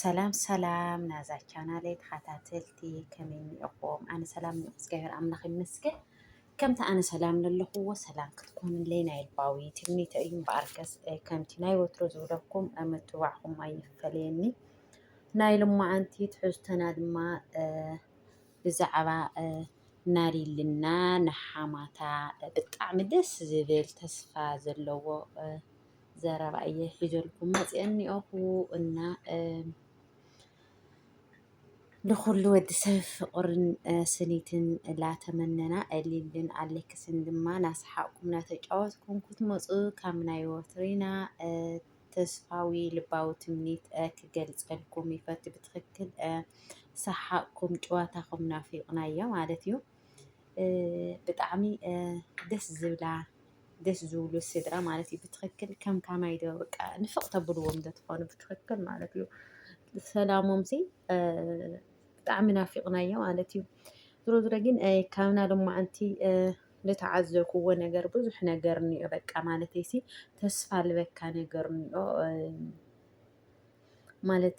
ሰላም ሰላም ናዛ ቻናለይ ተኸታተልቲ ከመይ እኒኦኹም? ኣነ ሰላም ን እግዚኣብሔር ኣምላኽ ይመስገን። ከምቲ ኣነ ሰላም ዘለኹዎ ሰላም ክትኮኑለይ ናይ ልባዊ ትምኒተ እዩ። እምበኣርከስ ከምቲ ናይ ወትሮ ዝብለኩም ምትብባዕኹም ኣይፈለየኒ። ናይ ልማዓንቲ ትሕዝቶና ድማ ብዛዕባ ናሊልና ንሓማታ ብጣዕሚ ደስ ዝብል ተስፋ ዘለዎ ዘረባ እየ ሒዘልኩም መፅአ እኒኦኹ እና ንኹሉ ወዲ ሰብ ፍቕርን ስኒትን ላተመነና እሊልን ኣሌክስን ድማ ናሰሓቕኩም ናተጫወትኩም ክትመፁ ካብ ናይ ወትሪና ተስፋዊ ልባዊ ትምኒት ክገልፀልኩም ይፈት ብትክክል ሰሓቕኩም ጨዋታኹም ናፊቕናዮ ማለት እዩ ብጣዕሚ ደስ ዝብላ ደስ ዝብሉ ስድራ ማለት እዩ። ብትክክል ከም ካማይ ዶ በቃ ንፍቅ ተብልዎም ዶ ትኾኑ ብትክክል ማለት እዩ። ሰላሞም ሲ ብጣዕሚ ናፊቅናዮ ማለት እዩ። ዝሮ ዝሮ ግን ካብና ሎማዓንቲ ዝተዓዘብክዎ ነገር ብዙሕ ነገር እኒኦ በቃ ማለት ሲ ተስፋ ልበካ ነገር እኒኦ ማለት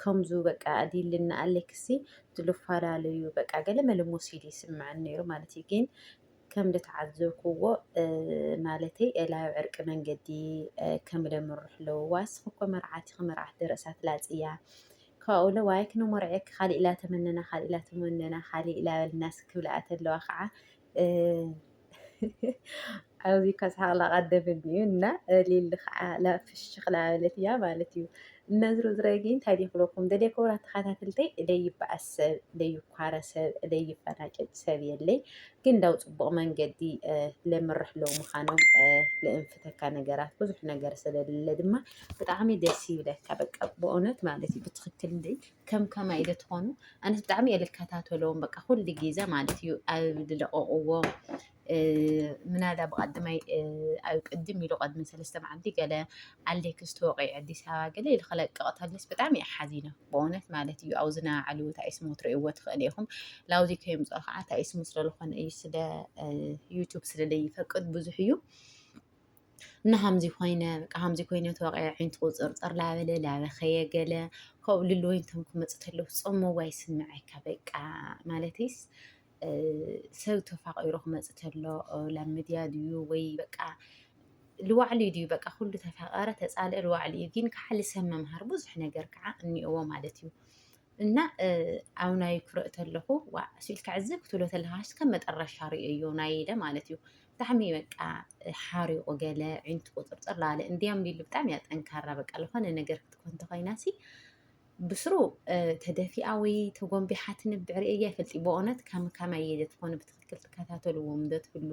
ከምዙ በቃ ዲልና ኣሌክሲ ዝልፈላለዩ በቃ ገለ መለ ሞሲድ ይስምዐን ነይሩ ማለት እዩ። ግን ከም ዝተዓዘብክዎ ማለተይ ላብ ዕርቂ መንገዲ ከም ለምርሕ ኣለዎ ዋስ ክኮ መርዓቲ ክመርዓት ደረእሳት ላፅያ ካብኡ ለ ዋይ ክነሞርዐ ካሊእ ላ ተመነና ካሊእ ላ ተመነና ካሊእ ላበልናስ ክብልኣት ኣለዋ ከዓ ኣብዚ ከስሓቕ ላቐደመኒ እዩ እና ሊሊ ከዓ ፍሽኽ ላበለት እያ ማለት እዩ። እና ዝሮ ዝሮ ግን እንታይ ደይ ክለኩም ደደ ክብራ ተኸታተልተይ እደይ ይበኣስ ሰብ እደይ ይኳረ ሰብ እደይ ይፈናጨጭ ሰብ የለይ ግን ዳው ፅቡቕ መንገዲ ለምርሕ ለው ምዃኖም ለእንፍተካ ነገራት ብዙሕ ነገር ስለሌለ ድማ ብጣዕሚ ደስ ይብለካ በቃ ብእውነት ማለት እዩ ብትኽክል እንደይ ከም ከማይ ኢለ ትኾኑ ኣነስ ብጣዕሚ እየ ልከታተሎም በቃ ኩሉ ግዜ ማለት እዩ ኣብ ዝለቀቅዎ ምናዳ ብቀድማይ ኣብ ቅድም ኢሉ ቀድሚ ሰለስተ መዓልቲ ገለ ኣሌክስ ተወቂዑ ኣዲስ ኣበባ ገለ ኢሉ ክለቅቕ ተለስ ብጣዕሚ እየ ሓዚነ ብእውነት ማለት እዩ ኣብዚ ናባዕሉ እንታይ ስሙ ትርእይዎ ትኽእል ኢኹም ላብዚ ከየምፅኦ ከዓ እንታይ ስሙ ስለዝኾነ እዩ ስለ ዩቱብ ስለዘይፈቅድ ብዙሕ እዩ እና ሀምዚ ኮይነ በቃ ሀምዚ ኮይነ ተወቂዐ ዓይንቲ ቁፅርፅር ላበለ ላበኸየ ገለ ካብኡ ልሉ ወይን ተንኩ መፅተለሁ ፆሞ ዋይ ስምዐካ በቃ ማለትስ ሰብ ተፋቂሩ ክመፅእ ተሎ ላብ ሚድያ ድዩ ወይ በቃ ልዋዕሉ ድዩ በቃ ኩሉ ተፋቀረ ተፃልአ ልዋዕሉ እዩ ግን ከዓ ልሰብ መምሃር ብዙሕ ነገር ከዓ እኒኦዎ ማለት እዩ እና ኣብ ናይ ክርኢ ተለኹ ዋ ስኢልካ ዕዝ ክትብሎ ተለካ ከም መጠረሻ ርእዮ ናይ ኢለ ማለት እዩ ብጣዕሚ በቃ ሓሪቑ ገለ ዒንቱ ቁፅርፅር ላለ እንዲያም ሊሉ ብጣዕሚ እያ ጠንካራ በቃ ዝኾነ ነገር ክትኮን ተኮይና ሲ ብስሩ ተደፊኣ ወይ ተጎንቢሓ ትንብዕ ርእየ ይፈልጥ በእውነት ከም ከመይ እየ ትኾኑ ብትክክል ትከታተልዎም ዶ ትህሉ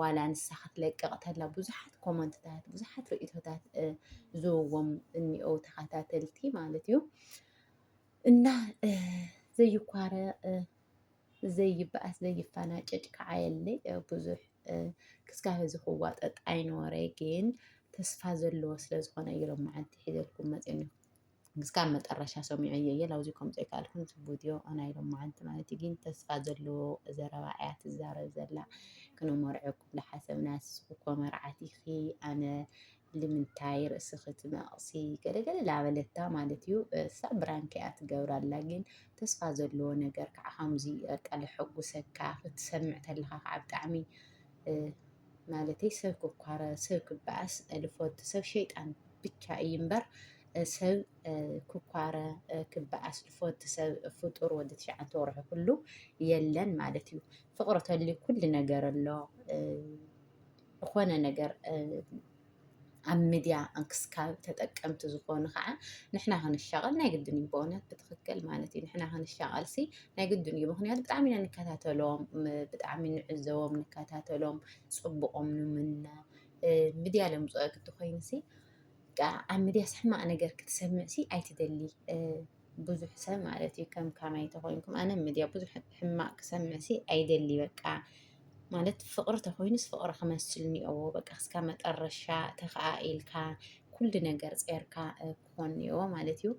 ዋላ ንሳ ክትለቅቕ ተላ ብዙሓት ኮመንትታት ብዙሓት ርእቶታት ዝውዎም እኒኦ ተኸታተልቲ ማለት እዩ እና ዘይኳረ ዘይበኣስ ዘይፈናጨጭ ከዓ የለ ብዙሕ ክስካብ እዚ ክዋጠጥ ኣይነበረ ግን ተስፋ ዘለዎ ስለ ዝኾነ እዩ ሎማዓንቲ ሒዘልኩም መፅኒ እስካብ መጠረሻ ሰሚዑ እየ እየ ላብዚ ከም ዘይካልኩም ዝቡድዮ ናይ ሎማዓንቲ ማለት ግን ተስፋ ዘለዎ ዘረባ እያ ትዛረብ ዘላ ክነመርዐኩም ዳሓሰብና ንስኺ እኮ መርዓት ኢኺ ኣነ ልምንታይ ርእስኺ ትነቕሲ ገለገለ ላበለታ ማለት እዩ እሳ ብራንክ እያ ትገብራላ ግን ተስፋ ዘለዎ ነገር ከዓ ከምዚ በቃ ልሐጉሰካ ክትሰምዕ ተለካ ከዓ ብጣዕሚ ማለተይ ሰብ ክኳረ ሰብ ክበኣስ ልፈቱ ሰብ ሸይጣን ብቻ እዩ እምበር ሰብ ክኳረ ክበኣስ ዝፈቱ ሰብ ፍጡር ወዲ ትሽዓተ ወርሑ ኩሉ የለን ማለት እዩ። ፍቅሪ ተልዩ ኩሉ ነገር ኣሎ ዝኾነ ነገር ኣብ ሚድያ እንክስካብ ተጠቀምቲ ዝኾኑ ከዓ ንሕና ክንሻቐል ናይ ግድን እዩ በእውነት ብትኽክል ማለት እዩ ንሕና ክንሻቐል ሲ ናይ ግድን እዩ ምክንያቱ ብጣዕሚ ኢና ንከታተሎም ብጣዕሚ ንዕዘቦም ንከታተሎም ፅቡቆም ንምነ ሚድያ ለምፅኦ ግዲ ኮይኑ ሲ በቃ ኣብ ሚድያስ ሕማቅ ነገር ክትሰምዕ ሲ ኣይትደሊ ብዙሕ ሰብ ማለት እዩ ከም ካማይ ተኮይንኩም ኣነ ሚድያ ብዙሕ ሕማቅ ክሰምዕ ሲ ኣይደሊ በቃ ማለት ፍቅሪ ተኮይኑስ ፍቅሪ ክመስል ኒኦዎ በቃ እስካ መጠረሻ ተከኣኢልካ ኩሉ ነገር ፀርካ ክኮን ኒኦዎ ማለት እዩ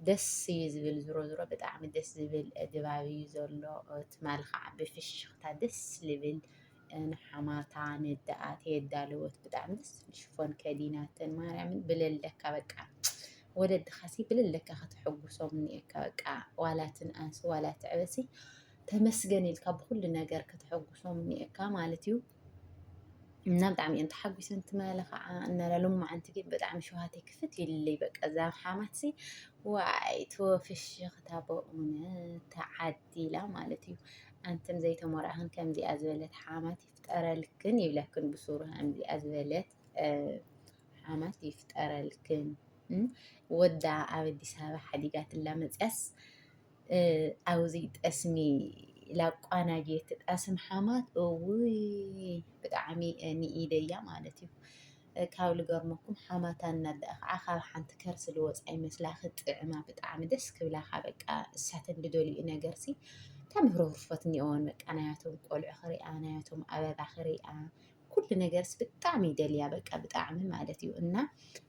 ደስ እዩ ዝብል ዝሮ ዝሮ ብጣዕሚ ደስ ዝብል ድባብ እዩ ዘሎ ትማሊ ከዓ ብፍሽክታ ደስ ዝብል ንሓማታ ንዳኣት የዳለወት ብጣዕሚ ደስ ዝብል ሽፎን ከዲናተን ማርያምን ብለለካ በቃ ወለድኻሲ ብለለካ ከተሐጉሶም እኒኤካ በቃ ዋላ ትንኣስ ዋላ ትዕበሲ ተመስገን ኢልካ ብኩሉ ነገር ከተሐጉሶም እኒኤካ ማለት እዩ እና ብጣዕሚ እየን ተሓጒሰን ትመለ ከዓ እናላ ሎማዓንቲ ግን ብጣዕሚ ሸውሃተይ ክፍት ይልለይ በቃ እዛ ሓማትሲ ዋይ ተወፍሽኽታ በእውነት ተዓድ ሓማቲ ኢላ ማለት እዩ። ኣንትን ዘይተሞራህን ከምዚኣ ዝበለት ሓማት ይፍጠረልክን ይብለክን ብሱሩ ከምዚኣ ዝበለት ሓማት ይፍጠረልክን። ወዳ ኣብ ኣዲስ ኣበባ ሓዲጋትላ መፅያስ ኣብዚ ጠስሚ ላቋናጅ ትጣስም ሓማት እውይ ብጣዕሚ ንኢደያ ማለት እዩ። ካብ ልገርመኩም ሓማታን ናዳ ከዓ ካብ ሓንቲ ከርሲ ልወፃ ይመስላ ክጥዕማ ብጣዕሚ ደስ ክብላካ በቃ እሳተን ልደልኡ ነገርሲ ተምህሮ ህርፈት እኒኦን በቃ ናያቶም ቆልዑ ክሪኣ ናያቶም ኣበባ ክሪኣ ኩሉ ነገርስ ብጣዕሚ ይደልያ በቃ ብጣዕሚ ማለት እዩ እና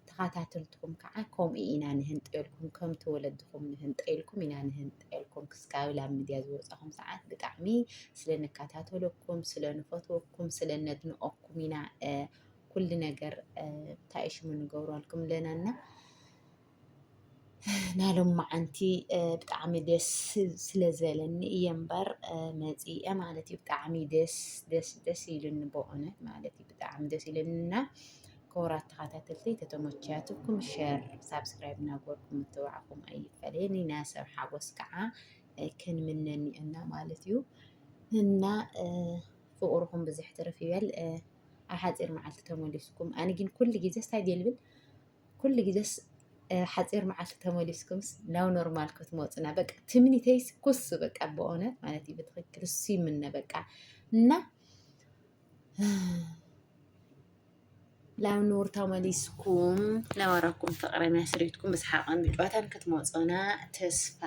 ተኸታተልትኩም ከዓ ከምኡ ኢና ንህንጠልኩም ከምቲ ወለድኹም ንህንጠልኩም ኢና ንህንጠልኩም ክስካብ ላብ ሚድያ ዝወፃኹም ሰዓት ብጣዕሚ ስለ ንከታተለኩም ስለ ንፈትወኩም ስለ ነድንቐኩም ኢና ኩሉ ነገር እንታይ ሽሙ ንገብረልኩም ኣለና እና ናይ ሎማዓንቲ ብጣዕሚ ደስ ስለ ዘለኒ እየ እምበር መፂአ ማለት እዩ ብጣዕሚ ደስ ደስ ደስ ኢሉኒ በእውነት ማለት እዩ ብጣዕሚ ደስ ኢሉኒ እና ክቡራት ተኸታተልቲ ተተመችያትኩም ሸር ሳብስክራይብ እናገበርኩም ምትብባዕኩም ኣይፈለየኒ ናይ ሰብ ሓጎስ ከዓ ክንምነኒ እና ማለት እዩ እና ፍቅርኹም ብዝሕ ትርፍ ይበል ኣብ ሓፂር መዓልቲ ተመሊስኩም ኣነ ግን ኩሉ ግዜስ እንታይ ድየ ልብል ኩሉ ግዜስ ሓፂር መዓልቲ ተመሊስኩምስ ናብ ኖርማል ክትመፁና በቃ ትምኒተይስ ኩሱ በቃ በእውነት ማለት እዩ ብትክክል እሱ ይምነ በቃ እና ላብ ንቡር ተመሊስኩም ነበረኩም ፍቅረ መስሪትኩም ብስሓቅን ብጨዋታን ክትመፁና ተስፋ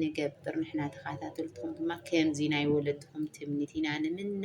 ንገብር ንሕና ተኸታተልትኩም ድማ ከምዚ ናይ ወለድኩም ትምኒት ኢና ንምነ